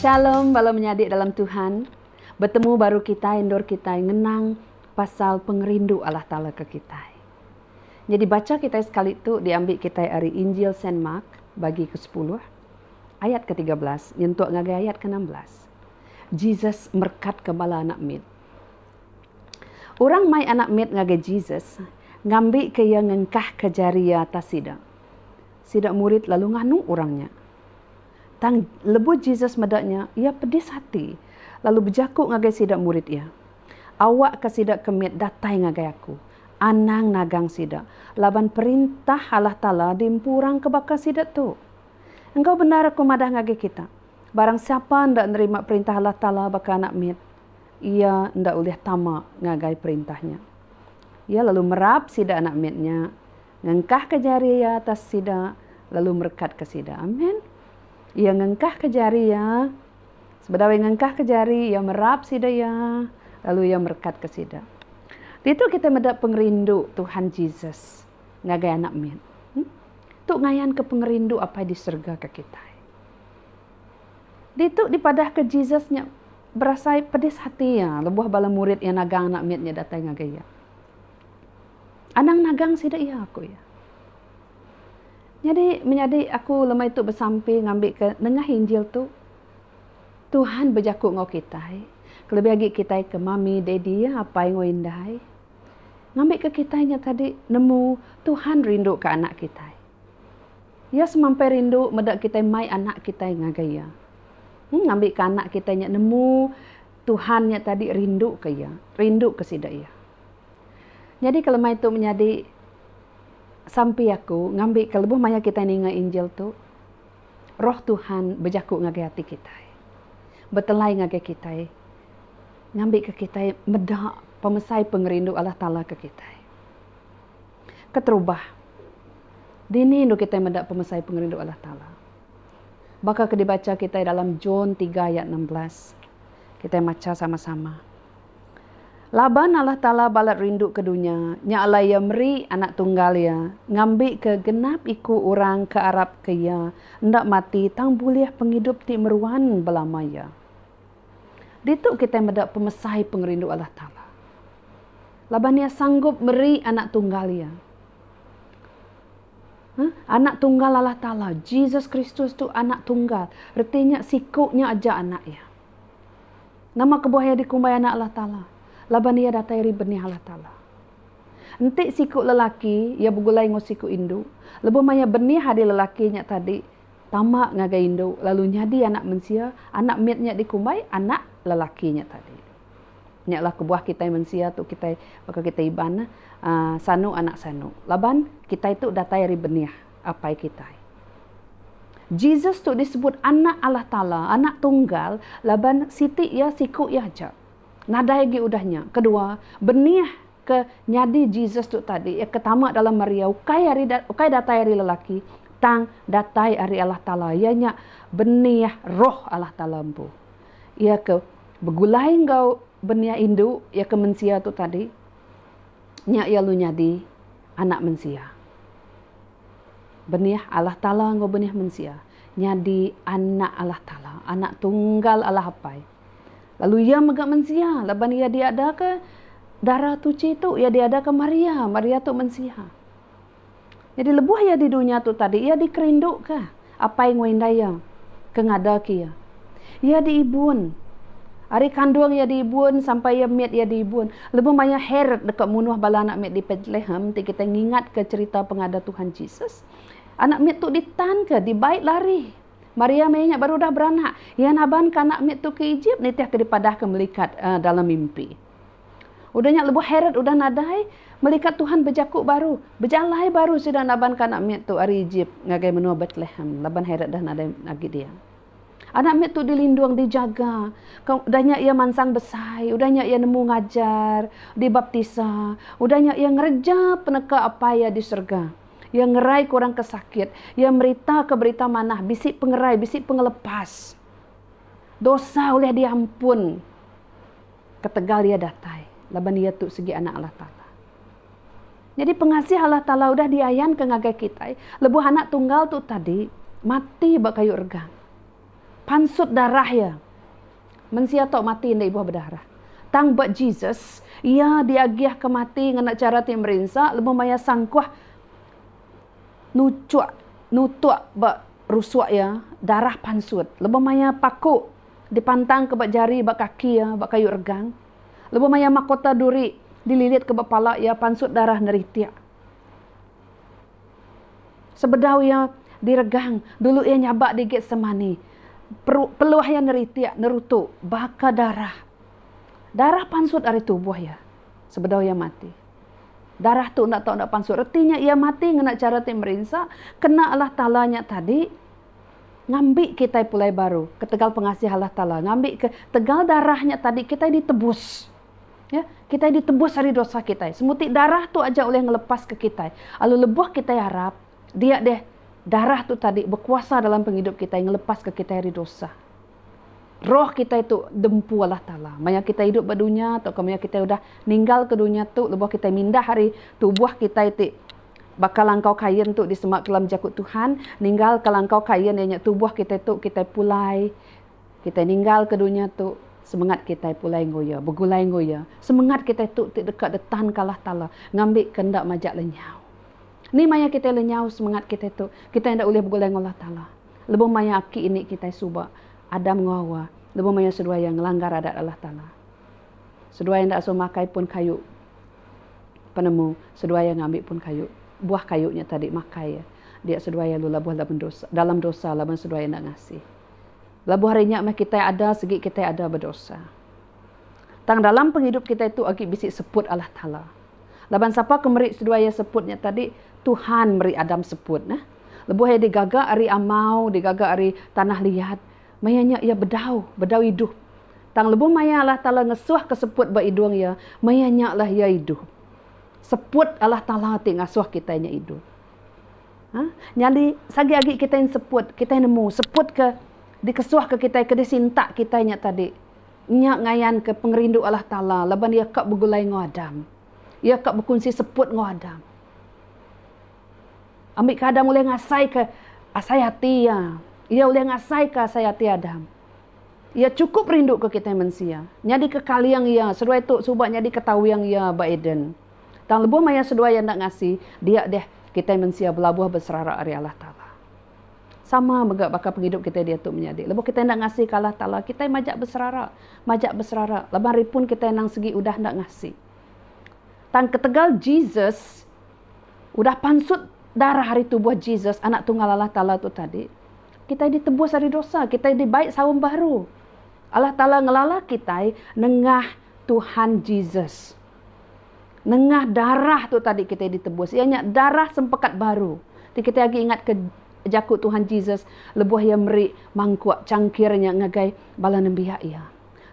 Shalom bala menyadi dalam Tuhan. Betemu baru kitai endur kitai ngenang pasal pengerindu Allah Taala ke kitai. Nyadi bacha kitai sekali tu diambi kitai ari Injil Saint Mark bagi ke sepuluh ayat ke tiga belas nyentuk ngagai ayat ke enam belas. Jesus merekat ke bala anak mit. Orang mai anak mit ngagai Jesus, ngambika iya ngengkahka jari iya atas sida. Sida murid lalu nganu orang nya. Tang, lebuh Jesus meda nya, iya pedis ati, lalu bejaku ngagai sida murid iya, Awakka sida ke mit datai ngagai aku. Anang nagang sida, laban Perintah Allah Taala diempu orang ke baka sida tu. Enggau bendar aku madah ngagai kita, barang sapa enda nerima Perintah Allah Taala baka anak mit. Iya enda ulih tama ngagai perintah nya. Iya lalu merap sida anak mit nya, ngengkahka jari iya atas sida, lalu merekatka sida. Amen. Iya ngengkahka jari iya. Sebedau iya ngengkahka jari, iya merap sida iya, lalu iya merekatka sida. Ditu kitai meda pengerindu Tuhan Jesus ngagai anak mit. Tu ngayanka pengerindu Apai di serega ke kitai. Ditu dipadahka Jesus nya berasai pedis ati iya lebuh bala murid iya nagang anak mit nya datai ngagai iya. Anang nagang sida iya, ku iya. Nyadi menyadi aku lemai tu besampi ngambika nengah Injil tu, Tuhan bejaku enggau kitai, kelebih agi kitai ke mami, daddy, apai enggau indai. Ngambika kitai nya tadi nemu Tuhan rinduka anak kitai. Iya semampai rindu meda kitai mai anak kitai ngagai Iya. Ngambika anak kitai nya nemu Tuhan nya tadi rinduka iya, rinduka sida iya. Nyadika lemai tu menyadi sampi aku ngambika lebuh maya kitai ninga Injil tu, Roh Tuhan bejaku ngagai ati kitai, betelai ngagai kitai ngambika kitai meda pemesai pengerindu Allah Taala ke kitai. Keterubah, dini endur kitai meda pemesai pengerindu Allah Taala? Baka ke dibacha kitai dalam John tiga ayat enam belas. Kitai macha sama-sama. Laban Allah Taala balat rindu ke dunya, nya alai Iya meri Anak Tunggal Iya, ngambika genap iku orang ke arapka Iya enda mati tang bulih pengidup ti meruan belama iya. Ditu kitai meda pemesai pengerindu Allah Taala. laban iya sanggup meri Anak Tunggal iya. Huh? Anak Tunggal Allah Taala, Jesus Kristus tu Anak Tunggal, reti nya siku nya aja Anak iya. Nama kebuah iya dikumbai Anak Allah Taala? Laban iya datai ari Benih Allah Taala. Enti siku lelaki iya begulai enggau siku indu, lebuh maya benih ari lelaki nya tadi tama ngagai indu lalu nyadi Anak Mensia, Anak mit nya dikumbai Anak lelaki nya tadi. Nya lah kebuah kitai mensia tu kitai baka kitai Iban neh aaa sanu anak sanu. Laban kitai tu datai ari benih Apai kitai. Jesus tu disebut Anak Allah Taala, Anak Tunggal laban siti iya siku iya aja. Nadai agi udah nya. Kedua, benih ke nyadi Jesus tu tadi iya ke tama dalam Maria ukai ari ukai datai ari lelaki tang datai ari Allah Taala iya nya benih Roh Allah Taala empu. iya ke begulai enggau beniah indu iya ke mensia tu tadi nya iya lalu nyadi anak mensia. Beniah Allah Taala enggau beniah mensia nyadi anak Allah Taala, anak tunggal Allah Apai. Lalu iya mega mensia laban iya diadaka darah tuchi tu, iya diadaka Maria, Maria tu mensia. Nyadi lebuh iya di dunya tu tadi iya dikerinduka apai enggau indai iya ke ngadaka iya. Iya diibun. Ari kandung iya diibun sampai iya mit iya diibun. Lebuh maya Herod deka munuh bala anak mit di Betlehem ti kitai ngingatka cherita pengada Tuhan Jesus, anak mit tu ditanka dibai lari. Maria maya nya baru udah beranak, iya nabanka anak mit tu ke Egypt nitihka dipadahka melikat dalam mimpi. Udah nya lebuh Herod udah nadai, melikat Tuhan bejaku baru, bejalai baru sida nabanka anak mit tu ari Ejip ngagai menua Betlehem laban Herod dah nadai agi dia. Anak mit tu dilindung, dijaga. Udah nya iya mansang besai, udah nya iya nemu ngajar, dibaptisa, udah nya iya ngereja peneka Apai iya di serega. Iya ngeraika orang ke sakit, iya meritaka berita manah bisi pengerai, bisi pengelepas. Dosa ulih diampun. Ketegal iya datai laban iya tu sigi Anak Allah Taala. Nyadi pengasih Allah Taala udah diayanka ngagai kitai lebuh Anak Tunggal tu tadi mati ba kayu regang. Pansut darah iya, mensia tau mati enda ibuh bedarah. Tang ba Jesus, iya diagihka mati ngena chara ti merinsa lebuh maya sangkuh nuchuk nutuk ba rusuk iya darah pansut lebuh maya paku. dipantangka ba jari ba kaki iya ba kayu regang, lebuh maya makota duri dililitka ba pala iya pansut darah neritik. Sebedau iya diregang, dulu iya nyabak digit semani, peru peluh iya neritik nerutu baka darah. Darah pansut ari tubuh iya sebedau iya mati. Darah tu enda tau enda pansut reti nya iya mati ngena chara ti merinsa kena Allah Taala nya tadi. ngambi kitai pulai baru ketegal pengasih Allah Taala ngambi ke tegal darah nya tadi kitai ditebus ya kitai ditebus ari dosa kitai semuti darah tu aja ulih ngelepas ke kitai alu lebuh kitai arap dia deh darah tu tadi bekuasa dalam pengidup kitai ngelepas ke kitai ari dosa. roh kitai tu diempu Allah Taala. Maya kitai idup ba dunya tauka maya kitai udah ninggalka dunya tu lebuh kitai mindah ari tubuh kitai ti baka langkau kain tu disema dalam jaku Tuhan, ninggalka langkau kain iya nya tubuh kitai tu kitai pulai kitai ninggalka dunya tu semengat kitai pulai enggau Iya, begulai enggau Iya. Semengat kitai tu ti deka ditanka Allah Taala ngambika enda majak lenyau. Ni maya kitai lenyau semengat kitai tu, kitai enda ulih begulai enggau Allah Taala. lebuh maya aki ini kitai suba, Adam enggau Hawa, lebuh maya seduai iya ngelanggar Adat Allah Taala. Seduai enda suah makai pun kayu penemu, seduai iya ngambi pun kayu buah kayu nya tadi makai iya. Dia seduai iya lalu labuh laban dosa dalam dosa laban seduai iya enda ngasih. Labuh hari nya meh kitai ada sigi kitai ada bedosa. Tang dalam pengidup kitai tu agi bisi seput Allah Taala. Laban sapa ke meri seduai iya seput nya tadi? Tuhan meri Adam seput neh. Lebuh iya digaga ari amau, digaga ari tanah liat, maya nya iya bedau, bedau idup. Tang lebuh maya Allah Taala ngesuhka seput ba idung iya, maya nya lah iya idup. Seput Allah Taala ti ngasuh kitai nya idup. Ha, nyadi sagi agi kitai enseput, kitai nemu seput ke dikesuhka kitai, ke disintak kitai nya tadi, nya ngayanka pengerindu Allah Taala laban iya ka begulai enggau Adam. Iya ka bekunsi seput enggau Adam. Ambi ke Adam ulih ngasaika asai ati Iya. Iya ulih ngasaika asai ati Adam. Iya chukup rinduka kitai mensia, nyadika kaling Iya seduai tu suba nyadika tawing Iya ba Eden. Tang lebuh maya seduai Iya enda ngasi, dia deh kitai mensia belabuh beserara ari Allah Taala. Sama mega baka pengidup kitai diatu menyadi. Lebuh kitai enda ngasika Allah Taala, kitai majak beserara, majak beserara laban ari pun kitai anang segi udah enda ngasi. Tang ketegal Jesus. Udah pansut darah ari tubuh Jesus, Anak Tunggal Allah Taala tu tadi, kitai ditebus ari dosa, kitai dibai saum baru. Allah Taala ngelala kitai nengah Tuhan Jesus. Nengah darah tu tadi kitai ditebus, iya nya darah sempekat baru. Ti kitai agi ingatka jaku Tuhan Jesus lebuh iya meri mangkuk changkir nya ngagai bala nembiak iya.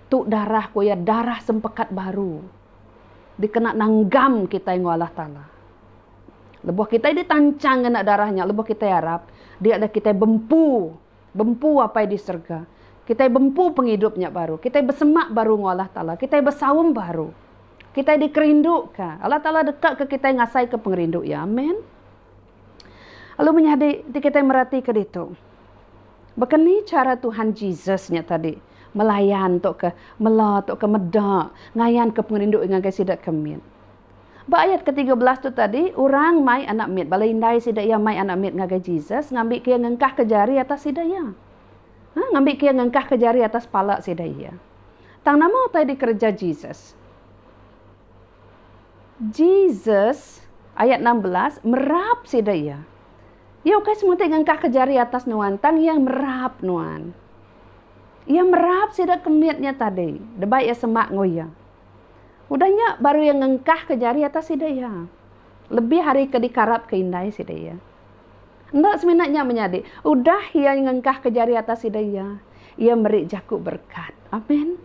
Tu darah ku iya, darah sempekat baru. dikena nanggam kitai enggau Allah Taala. Lebuh kitai ditanchang ngena darah nya, lebuh kitai arap, dia dah kitai bempu, bempu Apai di serega. Kitai bempu pengidup nya baru. Kitai besemak baru enggau Allah Taala. Kitai besaum baru. Kitai dikerinduka. Allah Taala dekaka kitai ngasaika pengerindu Iya. Amen. Lalu menyadi ti kitai meratika ditu, baka ni chara Tuhan Jesus nya tadi melayan tauka mela tauka meda ngayanka pengerindu iya ngagai sida ke mit. Ba ayat ketiga belas tu tadi, orang mai anak mit bala indai sida iya mai anak mit ngagai Jesus ngambika iya ngengkahka jari atas sida iya. Ha, ngambika iya ngengkahka jari atas pala sida iya. Tang nama utai dikereja Jesus? Jesus, ayat enam belas, merap sida iya. Iya ukai semutai ngengkahka jari atas nuan, tang iya merap nuan. Iya merap sida ke mit nya tadi, deba iya semak enggau iya. Udah nya baru iya ngengkahka jari atas sida iya, lebih ari ke dikarapka indai sida iya. Enda semina nya menyadi, udah iya ngengkahka jari atas sida iya, iya meri jaku berekat. Amen.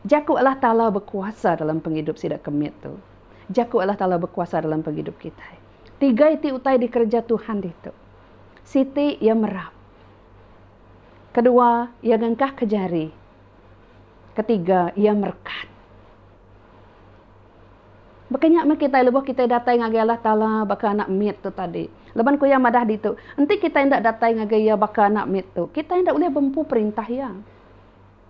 Jaku Allah Taala bekuasa dalam pengidup sida ke mit tu. Jaku Allah Taala bekuasa dalam pengidup kitai. Tiga iti utai dikereja Tuhan ditu. Siti Iya merap. Kedua Iya ngengkahka jari. Ketiga Iya merekat. Baka nya meh kitai lebuh kitai datai ngagai Allah Taala baka anak mit tu tadi. Laban ku iya madah ditu, enti kitai enda datai ngagai Iya baka anak mit tu, kitai enda ulih bempu perintah Iya.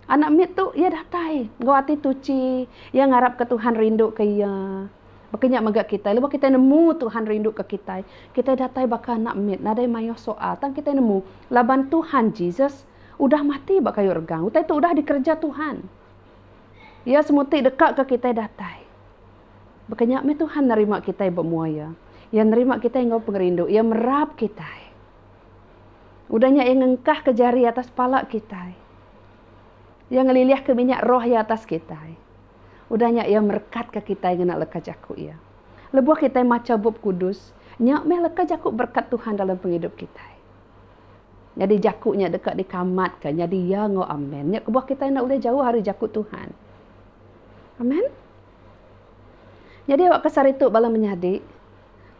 Anak mit tu, iya datai enggau ati tuchi. Iya ngarapka Tuhan rinduka iya. Baka nya mega kitai, lebuh kitai nemu Tuhan rinduka kitai, kitai datai baka anak mit nadai mayuh soal. Tang kitai nemu, laban Tuhan Jesus udah mati ba kayu regang. Utai tu udah dikereja Tuhan. Iya semuti dekaka kitai datai. Baka nya meh Tuhan nerima kitai ba mua iya. Iya nerima kitai enggau pengerindu. Iya merap kitai. Udah nya iya ngengkahka jari atas pala kitai. Iya ngelilihka minyak roh iya atas kitai. Udah nya iya merekatka kitai ngena leka jaku iya. Lebuh kitai macha Bup Kudus, nya meh leka jaku berekat Tuhan dalam pengidup kitai. Nyadi jaku nya deka dikamatka nyadi ya enggau amen. Nya kebuah kitai enda ulih jauh ari jaku Tuhan. Amen. Nyadi awakka sehari tu bala menyadi.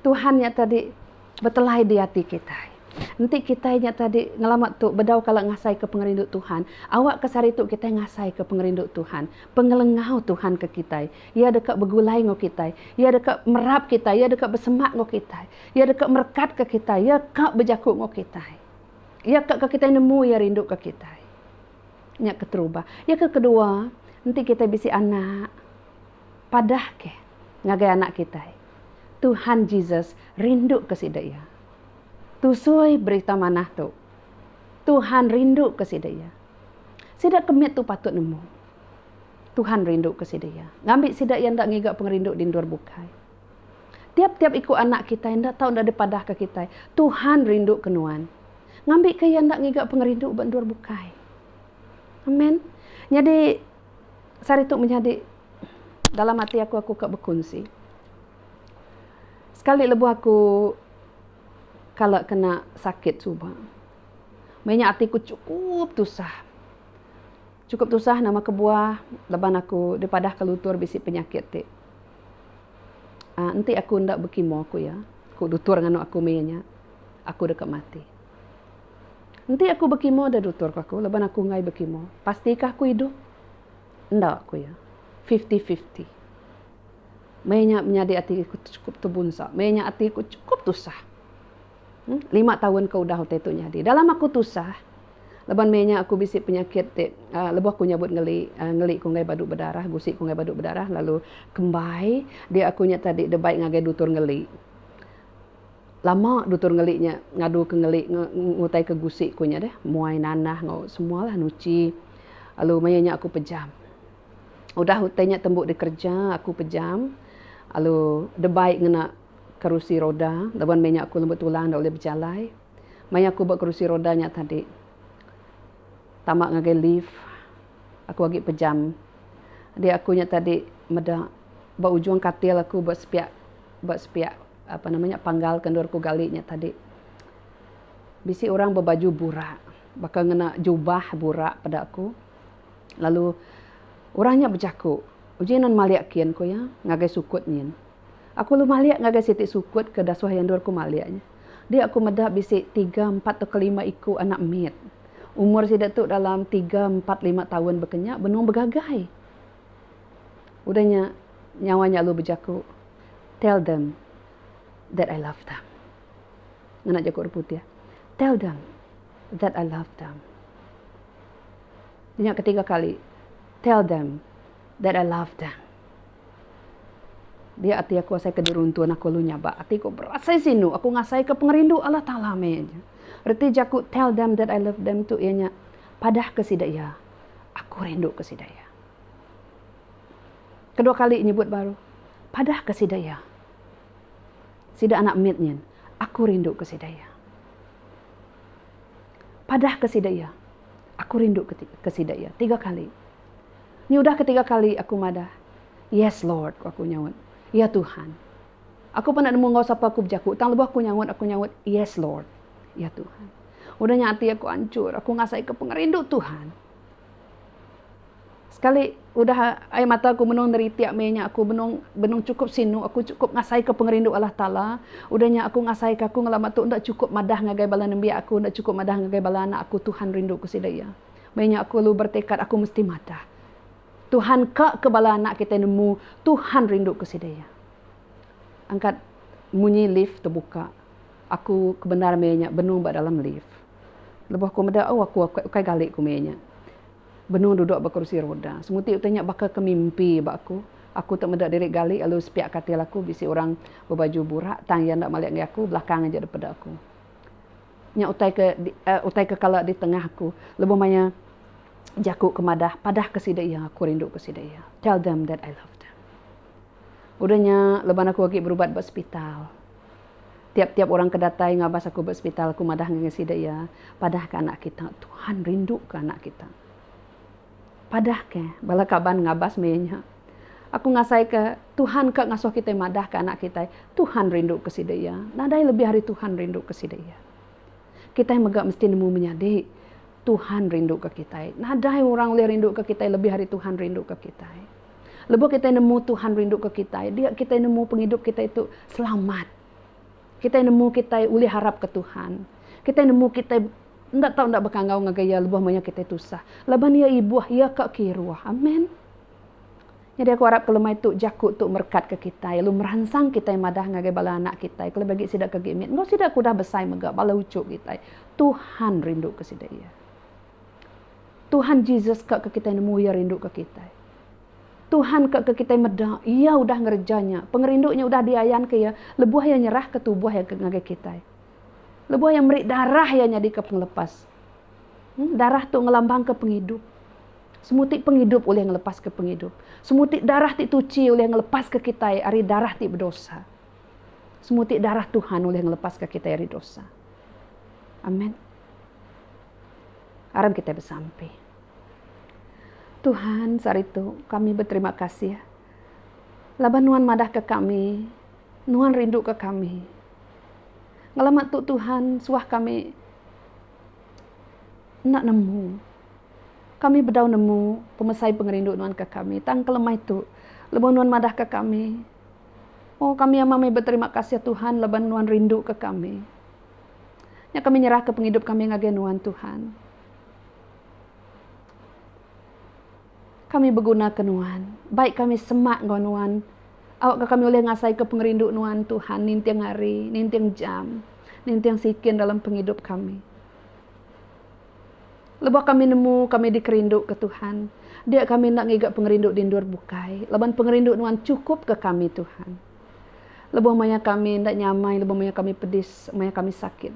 Tuhan nya tadi betelai di ati kitai. Enti kitai nya tadi ngelama tu bedau kala ngasaika pengerindu Tuhan, awakka sehari tu kitai ngasaika pengerindu Tuhan, pengelengau Tuhan ke kitai. Iya deka begulai enggau kitai, Iya deka merap kitai, Iya deka besemak enggau kitai, Iya deka merekatka kitai, Iya ka bejaku enggau kitai. Iya ka ke kitai nemu Iya rinduka kitai. Nya keterubah. Iya ke kedua, enti kitai bisi anak. padahka ngagai anak kitai, Tuhan Jesus rinduka sida iya. Tusui berita manah tu, Tuhan rinduka sida iya. Sida ke mit tu patut nemu, Tuhan rinduka sida iya. Ngambi sida iya enda ngiga pengerindu di endur bukai. Tiap-tiap iku anak kitai enda tau enda dipadahka kitai, Tuhan rinduka nuan. Ngambika iya enda ngiga pengerindu ba endur bukai. Amen. Nyadi. sehari tu menyadi dalam ati aku aku ka bekunsi sekali lebuh aku kala kena sakit suba meh nya ati ku chukup tusah chukup tusah nama kebuah laban aku dipadah ka luntur bisi penyakit ti aaa enti aku enda bekimo ku iya ku luntur nganu aku meh iya nya aku deka mati. Enti aku bekimo da dutur ku aku laban aku enggai bekimo pasti kah aku idup? Enda ku iya. Fifty fifty. Maya nya menyadi ati aku tu chukup tebunsa. Maya nya ati aku chukup tusah. Lima taun ka udah utai tu nyadi. Dalam aku tusah laban maya nya aku bisi penyakit ti uhh lebuh aku nyabut ngeli uhh ngeli ku enggai badu bedarah, gusi ku enggai badu bedarah lalu kembai dia aku nya tadi da bai ngagai dutur ngeli. Lama dutur ngeli nya ngadu ke ngeli ngutai ke gusi ku nya deh muai nanah enggau semua lah nuchi lalu maya nya aku pejam udah utai nya tembu dikereja aku pejam lalu debai ngena kerusi roda laban meh nya aku lemu tulang enda ulih bejalai maya aku ba kerusi roda nya tadi tama ngagai lift aku agi pejam adi aku nya tadi meda ba ujung katil aku ba sepiak ba sepiak. Apa nama nya panggal ke endur ku gali nya tadi. Bisi orang bebaju burak baka ngena jubah burak peda aku. Lalu orang nya bejaku, uji nan malik kin ku iya ngagai sukut nyin. Aku lalu malik ngagai siti sukut ke dasuh iya endur ku malik nya. Dia aku meda bisi tiga empat tauka lima iku anak mit. Umur sida tu dalam tiga empat lima taun baka nya benung begagai. Udah nya, nyawa nya lalu bejaku, Tell them that I love them. Ngena jaku orang putih, Tell them that I love them. Nya ketiga kali, Tell them that I love them. Dia ati aku asai ke diruntun aku lalu nyabak. Ati ku berasai sinu. Aku ngasai ke pengerindu Allah Taala meh aja. Reti jaku Tell them that I love them tu iya nya, Padah ke sida iya. Aku rindu ke sida iya. Kedua kali nyebut baru, Padah ke sida iya. Sida anak mit nyin, aku rindu ke sida iya. Padah ke sida iya. Aku rindu ke ke sida iya. Tiga kali. Nyudah ketiga kali aku madah, Yes Lord, ku aku nyaut. Ya Tuhan. Aku pernah nemu enggau sapa aku bejaku, tang lebuh aku nyaut, aku nyaut, Yes, Lord. Ya, Tuhan. Udah nya ati aku anchur, aku ngasaika pengerindu Tuhan. Sekali udah air mata aku benung neritik meh nya, aku benung benung chukup sinu, aku chukup ngasaika pengerindu Allah Taala. Udah nya aku ngasaika aku ngelama tu enda chukup madah ngagai bala nembiak aku, enda chukup madah ngagai bala anak aku, Tuhan rinduka sida iya. Meh nya aku lalu bertekad aku mesti madah. Tuhan ka ke bala anak kitai nemu Tuhan rindu ke sida iya. Angkat munyi lift tebuka aku kebendar meh inya benung ba dalam lift. Lebuh aku meda oh aku ukai gali ku meh inya benung duduk ba kerusi roda. Semuti utai nya baka ke mimpi ba aku. Aku tu meda diri gali lalu sepiak katil aku bisi orang bebaju burak tang iya enda malik ngagai aku belakang aja dipeda aku. Nya utai ke utai ke kala di tengah aku lebuh maya jaku ke madah padahka sida iya aku rinduka sida iya tell them that I love them. Udah nya leban aku agi berubat ba sepital tiap-tiap orang ke datai ngabas aku ba sepital aku madah ngagai sida iya padahka anak kita Tuhan rinduka anak kita. Padahka bala kaban ngabas maya nya. Aku ngasaika Tuhan ka ngasuh kitai madahka anak kitai, Tuhan rinduka sida iya. Nadai lebih ari Tuhan rinduka sida iya. Kitai mega mesti nemu menyadi, Tuhan rinduka kitai. Nadai orang ulih rinduka kitai lebih ari Tuhan rinduka kitai. Lebuh kitai nemu Tuhan rinduka kitai, dia kitai nemu pengidup kitai tu selamat. Kitai nemu kitai ulih harapka Tuhan. Kitai nemu kitai enda tau enda bekangau ngagai Iya lebuh maya kitai tusah. Laban Iya ibuh, Iya ka kiruh. Amen. Nyadi aku arapka lemai tu jaku tu merekatka kitai lalu meransang kitai madah ngagai bala anak kitai kelebih agi sida ke gimit enggau sida ke udah besai mega bala uchu kitai. Tuhan rinduka sida iya. Tuhan Jesus ka ke kitai nemu iya rinduka kitai. Tuhan ka ke kitai meda, Iya udah ngereja nya. Pengerindu nya udah diayanka Iya lebuh Iya nyerahka tubuh Iya ngagai kitai. Lebuh Iya meri darah Iya nyadika pengelepas. Darah tu ngelambangka pengidup. Semuti pengidup ulih ngelepaska pengidup. Semuti darah ti tuchi ulih ngelepaska kitai ari darah ti bedosa. Semuti darah Tuhan ulih ngelepaska kitai ari dosa. Amen. Aram kitai besampi. Tuhan saritu kami beterima kasih laban nuan madah ke kami nuan rindu ke kami ngelama tu Tuhan suah kami enda nemu kami bedau nemu pemesai pengerindu nuan ke kami tang kelemai tu lebuh nuan madah ke kami oh kami amat meh beterima kasih Tuhan laban nuan rindu ke kami nya kami nyerah ke pengidup kami ngagai nuan Tuhan. Kami begunaka Nuan. Baik kami semak enggau Nuan. Awakka kami ulih ngasaika pengerindu Nuan, Tuhan, ninting hari, ninting jam, ninting sikin dalam pengidup kami. Lebuh kami nemu kami dikerinduka Tuhan, dia kami enda ngiga pengerindu di endur bukai, laban pengerindu Nuan chukupka kami, Tuhan. Lebuh maya kami enda nyamai, lebuh maya kami pedis, maya kami sakit.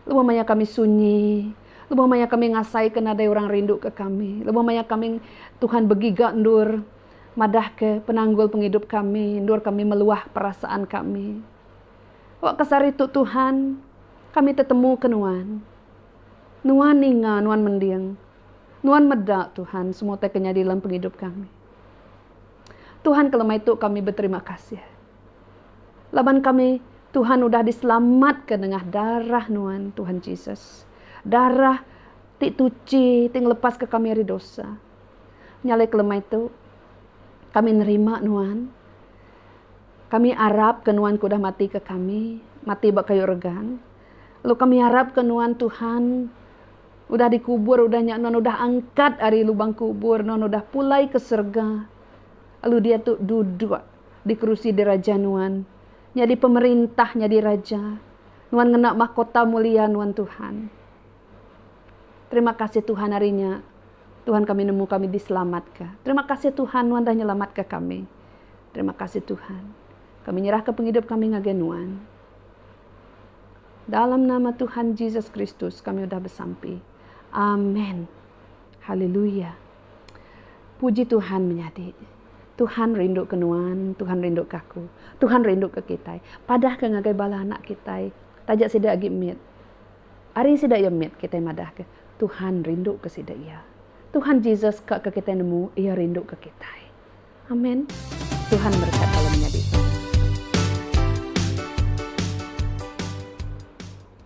Lebuh maya kami sunyi, lebuh maya kami ngasaika nadai orang rinduka kami, lebuh maya kami Tuhan begiga endur madahka penanggul pengidup kami, endur kami meluah perasaan kami. Ba kesaritu Tuhan, kami tetemuka Nuan. Nuan ninga, Nuan mending. Nuan meda, Tuhan, semua utai ke nyadi dalam pengidup kami. Tuhan, kelemaih tu kami beterima kasih. Laban kami, Tuhan udah diselamatka nengah darah Nuan, Tuhan Jesus. Darah ti tuchi ti ngelepaska kami ari dosa. Nyalai kelemai tu, kami nerima Nuan. Kami arapka Nuan ke udah matika kami, mati ba kayu regang. Lalu kami arapka Nuan, Tuhan, udah dikubur udah nya Nuan udah angkat ari lubang kubur, Nuan udah pulai ke serega. Lalu diatu duduk di kerusi diraja Nuan, nyadi pemerintah, nyadi raja. Nuan ngena mahkota mulia Nuan Tuhan. Terima kasih Tuhan hari nya Tuhan kami nemu kami diselamatka. Terima kasih Tuhan Nuan dah nyelamatka kami. Terima kasih Tuhan. Kami nyerahka pengidup kami ngagai Nuan. Dalam nama Tuhan Jesus Kristus kami udah besampi. Amen. Haleluya. Puji Tuhan menyadi. Tuhan rinduka nuan, Tuhan rinduka aku. Tuhan rinduka kitai. Padahka ngagai bala anak kitai taja sida agi mit. Ari sida iya mit kitai madahka Tuhan rinduka sida iya. Tuhan Jesus ka ke kitai nemu iya rinduka kitai. Amen. Tuhan berkat bala menyadi.